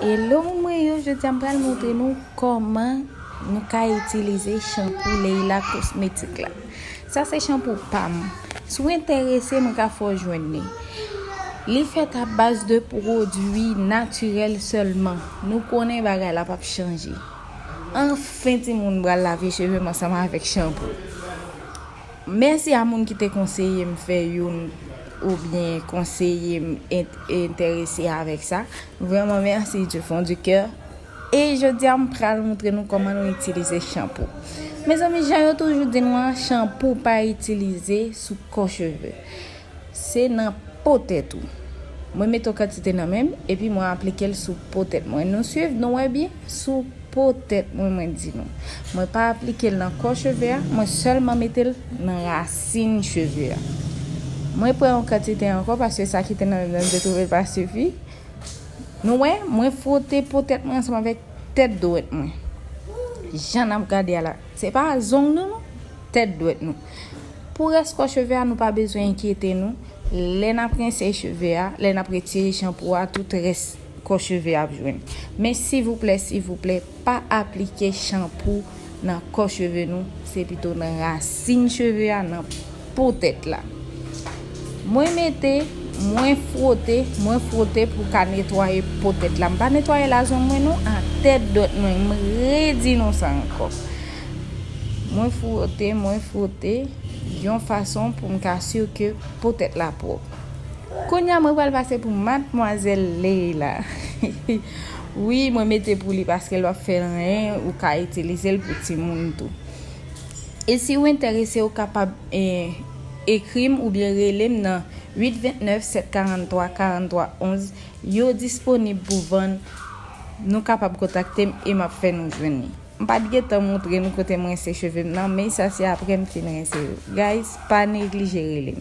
Hello mwen yo jodi an pral montre nou kòman nou ka itilize chanpou Leila kosmetik la sa se chanpou pam sou enterese mwen ka fò jwenn ni li fèt a baz de pwodwi natirèl sèlman nou konnen bagay la pap chanje anfen ti moun pral lave cheve m ansanm avèk chanpou. Mèsi a moun ki te konseye m fè youn oubyen konseye m entèrese avèk sa. Vrèman mèsi du fond du cœur. E jodi a m pral moutre nou kòman nou itilize chanpou. Mezanmi jan yo toujou di nou an, chanpou pa itilize sou kò cheve. Se nan po tèt ou. Mwen mete yon kantite nan menm epi mwen aplike l sou po tèt mwen. Nou swiv? Nou wè byen? Sou po tèt mwen mwen di nou. Mwen pa aplike l nan kò cheve a, mwen sèlman mete l nan rasin cheve a. Mwen pran yon kantite ankò paske sa ki te nan menm nan te twouve l pa sifi. Nou wè? Mwen fwote po tèt mwen ansanm avèk tèt dwèt mwen. Jan n ap gade a la. Se pa zong nou non. Tèt dwèt nou. Pou rès kò cheve a nou pa bezwen enkyete nou, lè n ap rense cheve a, lè n ap retire chanpou a tout rès kò cheve ap jwenn. Men sivouplè sivouplè pa aplike chanpou nan kò cheve nou, se pito nan rasin cheve a, nan po tèt la. Mwen mete, mwen fwote, mwen fwote pou ka netwaye po tèt la. M pa netwaye la zong mwen non, atè dwèt mwen, m redi nou sa ankò. Mwen fwote, mwen fwote, yon fason pou m ka sur ke po tèt la pwòp. Kounye a mwen pral pase pou Matmwazèl Leyla. Wi, mwen mete pou li paske lè w ap fè renyen, ou ka itilize l pou timoun tou. E si ou enterese ou kapab ekri m oubyen rele m nan 8 29 743 43 11, yo disponib pou vann, nou kapab kontakte m e m ap fè nou jwenn li. M pat gentan moutre nou kote m rense chevem nan men sa se aprè m fin rense yo guys pa neglije relem.